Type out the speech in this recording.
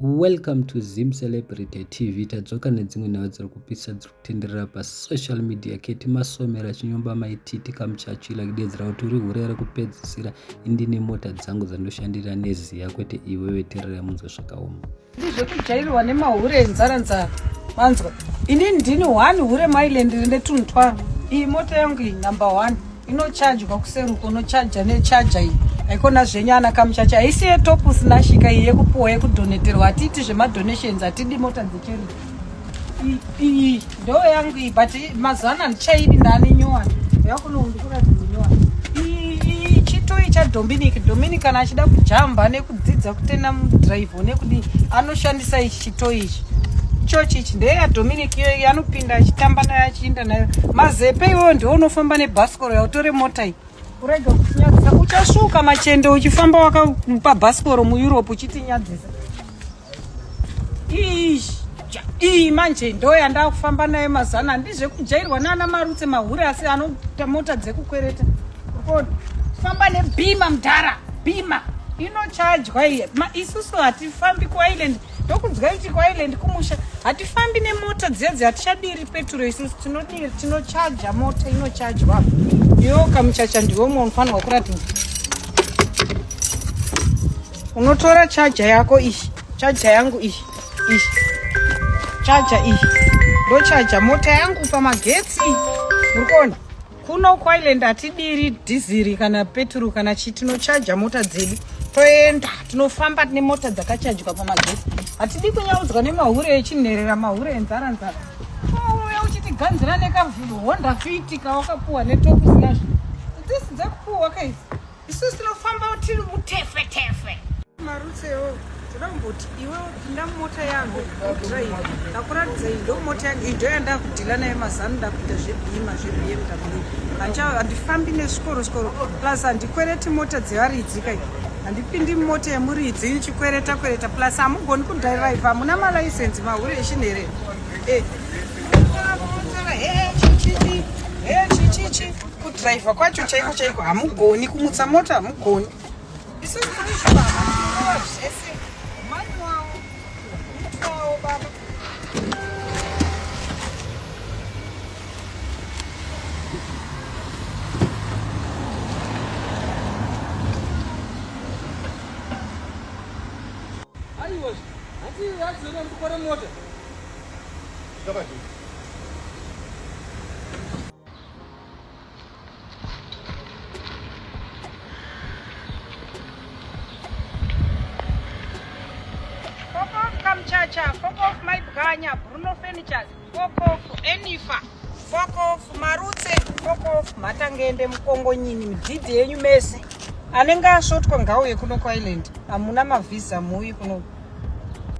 Welcome to Zim Celebrity TV. Tadzoka nedzimwe nhau dziri kupisa dziri kutenderera pasocial media keti masomera chinyomba maititi kamuchachila kudedzera kuti uri hure rekupedzisira indine mota dzangu dzandoshandira neziya kwete iwe veterera munzwa zvakaoma ndizvekujairwa nemahure enzara nzara manzwa ini ndini one hure mailand rine tunhu twangu iyi mota yangu iyi number one inochajwa kuseri uko unochaja nechaja iyi haikona zvenyu ana kamuchacha haisi yetop usina shika iyi yekupuwa yekudoneterwa hatiiti zvemadonations hatidi mota dzecheri iyi ndo yangu iyi but mazuva ano handichaidi ndane nyowani yakunoundikuradzinyoani iyi chitoi chadominic dominic kana achida kujamba nekudzidza kutenda mudrive nekudii anoshandisa ichi to ichi church ichi ndeya dominic iyoyi anopinda achitamba nayo achiinda nayo mazepe iwoyo ndiwo unofamba nebhasikoro yautore mota iyi urege kutinyadzisa uchasvuka machende uchifamba wakamupa bhasikoro mueurope uchitinyadzisa iish iyi manje ndo yandakufamba nayo mazana handizvekujairwa nana marutse mahure asi anota mota dzekukwereta famba nebhima mdhara bhima inochajwa iye isusu hatifambi kuisland ndokunzwa kuti kuisland kumusha hatifambi nemota dziya dzi hatichadiri peturo isusu tinodiri tinochaja mota inochajwa yo kamuchacha ndiwo mwe unofanirwa kuratidza unotora chaja yako iyi chaja yangu iyi iyi chaja iyi ndochaja mota yangu pamagetsi uri kuona kuno kuireland hatidiri dhiziri kana peturu kana chi tinochaja mota dzedu toenda tinofamba tine mota dzakachajwa pamagesi hatidi kunyaudzwa nemahure echinherera mahure enzara nzara uya uchitiganzira nekahonda fiti kawakapuwa netokusina zvi dzisi dzekupuwa kaizi Isu tinofamba tiri mutefe tefe. Marutsewo toda kumboti iwe pinda mumota yangu udrive ndakuratidza iyi ndo mota yangu iyi ndo yandakudhila naye mazano ndakuita zvebhima zvebmw hancha handifambi nesvikoro sikoro plus handikwereti mota dzevaridzika iyi handipindi mota yemuridzi ichikwereta kwereta plus hamugoni kudhiraiva hamuna malaisensi mahure eshini here e eh. kudriver kwacho chaiko chaiko hamugoni kumutsa mota hamugoni Chacha, fuck off my Bganya, Bruno Furnitures, fuck off Enifa, fuck off Marutse, fuck off Matangende, Mukongonyini, midhidhi yenyu mese anenge asvotwa ngauye kuno kuisland hamuna mavhiza muuyi kuno